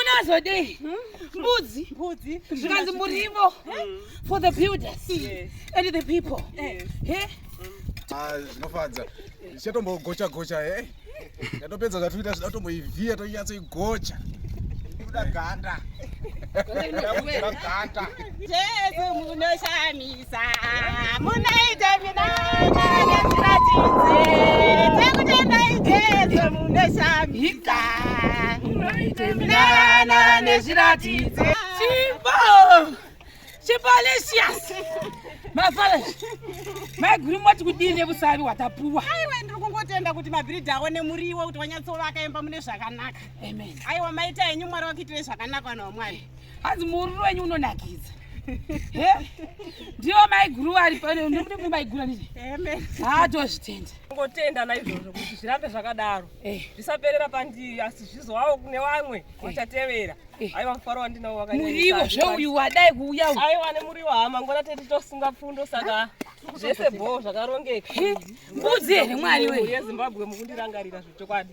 unazodei mbudzi mbudzi zvikanzi murivo for the builders and the people zvinofadza zvichatombogocha gocha e yatopedza zvatoita zvida kutomboivhiya tonyatsoigocha kuda ganda ganda tese munoshamisa maiguru moti kudii nevusavi hwatapuwa aiwa ndiri kungotenda kuti mabhiridhi awo nemuriwo kuti wanyatsova akaimba mune zvakanaka aiwa maita henyu mwari wakuitire zvakanaka vanhu vamwari hanzi muururu wenyu unonakidza ndiwo maiguru ari pano ndikuti kuti maiguru anizve haatozvitenda ngotenda naizvozvo kuti zvirambe zvakadaro eh. zvisaperera pandiri asi zvizowawo kune vamwe vachatevera eh. eh. aiwa mufaro wandinawo wakamuriwo zvouyu wadai kuuya u aiwa nemuriwo hama ngona tete tosunga pfundo saka zvese bhoo zvakarongeka mbudzi here mwari weye yezimbabwe mukundirangarira zvechokwadi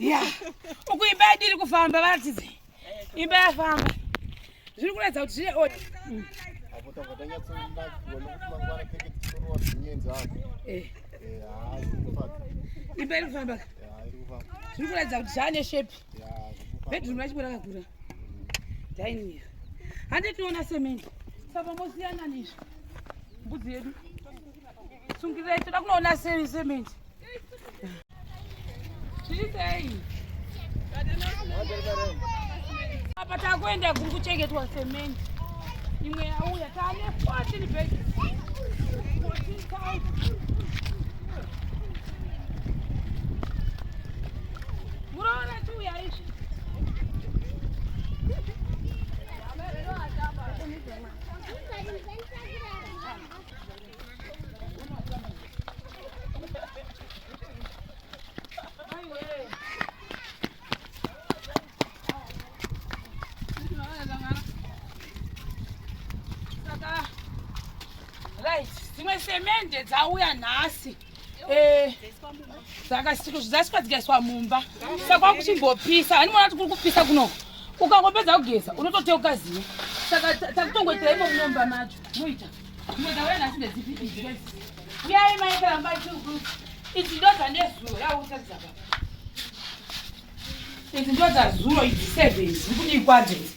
ya uku imba yadi iri kufamba varatidze imba yafamba zviri kuratidza kuti zvine oda mm. eh. eh, imba iri kufamba zviri kuratidza kuti zvaane shepi bedroom racho rakakura daini hande tiona semende saka mosiyana nezvo mbudzi yedu Sungirei toda kunoona seri cement. Chiitei. Apa takuenda kuri kuchengetwa cement. Imwe yauya tane 14 bags. 14,000. Muroona chiuya izvi. Thank you. Right. Dzimwe semende dzauya nhasi. Eh, dzakasvika dzikaiswa mumba saka kwakuchimbopisa ani mwana kuti kuri kupisa kuno ukangopedza kugeza unototeuka ziva saka takutongoitira imo munomba macho moita uyai maikaramba idzi ndo dzandezuro yautadzaa idzi ndo dzazuro idzi seven zikudii kwadzenzi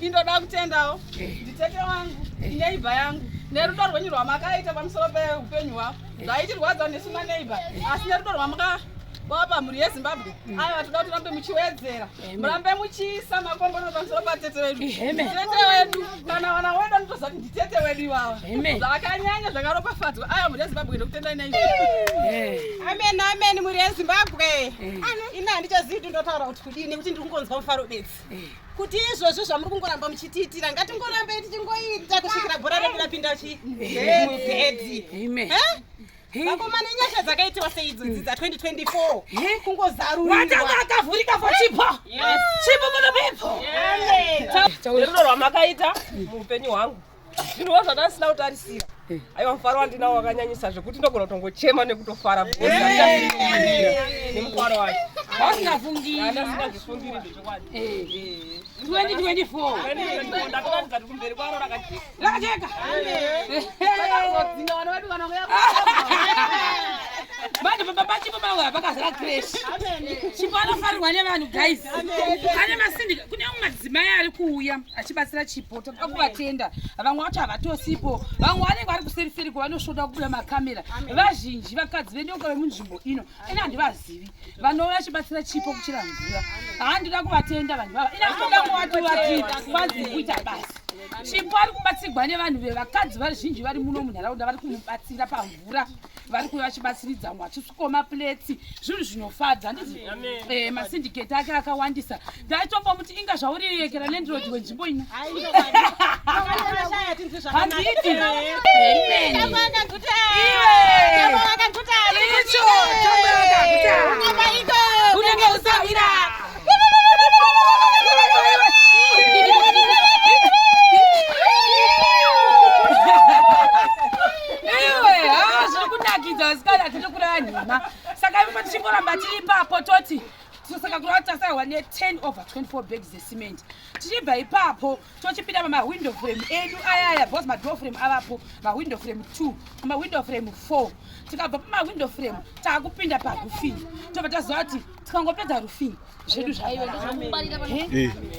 indoda kutendawo nditete wangu neighbor yangu nerudo rwenyu rwamakaita pamusoro peupenyu hwavo zvaitirwadza nesu maneighbor asi nerudo rwamaka wapa mhuri yezimbabwe mm. aya vatoda kuti rambe muchiwedzera murambe muchiisa makombono pamusoro patete vedu tete wedu kana vana wedu anotoziva kuti nditete wedu ivava zvakanyanya zvakaropafadzwa aya mhuri yezimbabwe ndokutendai nai amen amen mhuri yezimbabwe ini handichazivi kuti ndotaura kuti kudii nekuti ndiri kungonzwa mufaro bedzi kuti izvozvo zvamuri kungoramba muchitiitira ngatingorambe tichingoita kusvikira bhora redu rapinda chibhedhi vakomana inyasha dzakaitiwa seidzo dzidza 2024 kungozarurirwa akavhurika for chipo chipo for the people tauriro rwamakaita muupenyu hwangu zvinhuwo zvandasina kutarisira aiwa mufaro wandinawo wakanyanyisa zvekuti ndogona kutongochema nekutofara nemufaro wacho asingafungiiasingaifungiri zvechokwadi 2024 ndatoratidza kuti kumberi kwaro rakajeka Lakajeka. Vakazodzinga vana vedu kana kuya. Manje baba bachi baba wa vakazara crash. Chipo anofarirwa nevanhu guys. Pane masindi kune umwe madzimai ari kuuya achibatsira Chipo toda kuvatenda. Vamwe vacho havatosipo. Vamwe vanenge vari kuseri seri kwavanosvoda kubuda makamera. Vazhinji vakadzi vedu vemunzvimbo ino ini handivazivi vanouya vachibatsira chipo kuchira mvura handida kuvatenda vanhu vava ini handida kuvatuvativazi kuita basa chipo ari kubatsirwa nevanhu vevakadzi vazhinji vari muno munharaunda vari kumubatsira pamvura vari kuve vachibatsiridza vamwe vachisukoma pletsi zvinhu zvinofadza ndizi eh, masindiketi ake akawandisa ndaitombo muti inga zvaurirekera landlord wenzvimbo ino handiiti unenge usavira iwe haa zviri kunakidza vasikana tiri kuraya nhema saka imwe tichingoramba tiri ipapo toti tinosaka kurava tasarwa ne10 over 24 bags zecement tichibva ipapo tochipinda pamawindow frame edu ayaya bcause madoor frame avapo mawindow frame 2 mawindow frame 4 tikabva pamawindow frame taakupinda parufing tobva taziva kuti tikangopedza rufing zvedu zvaiva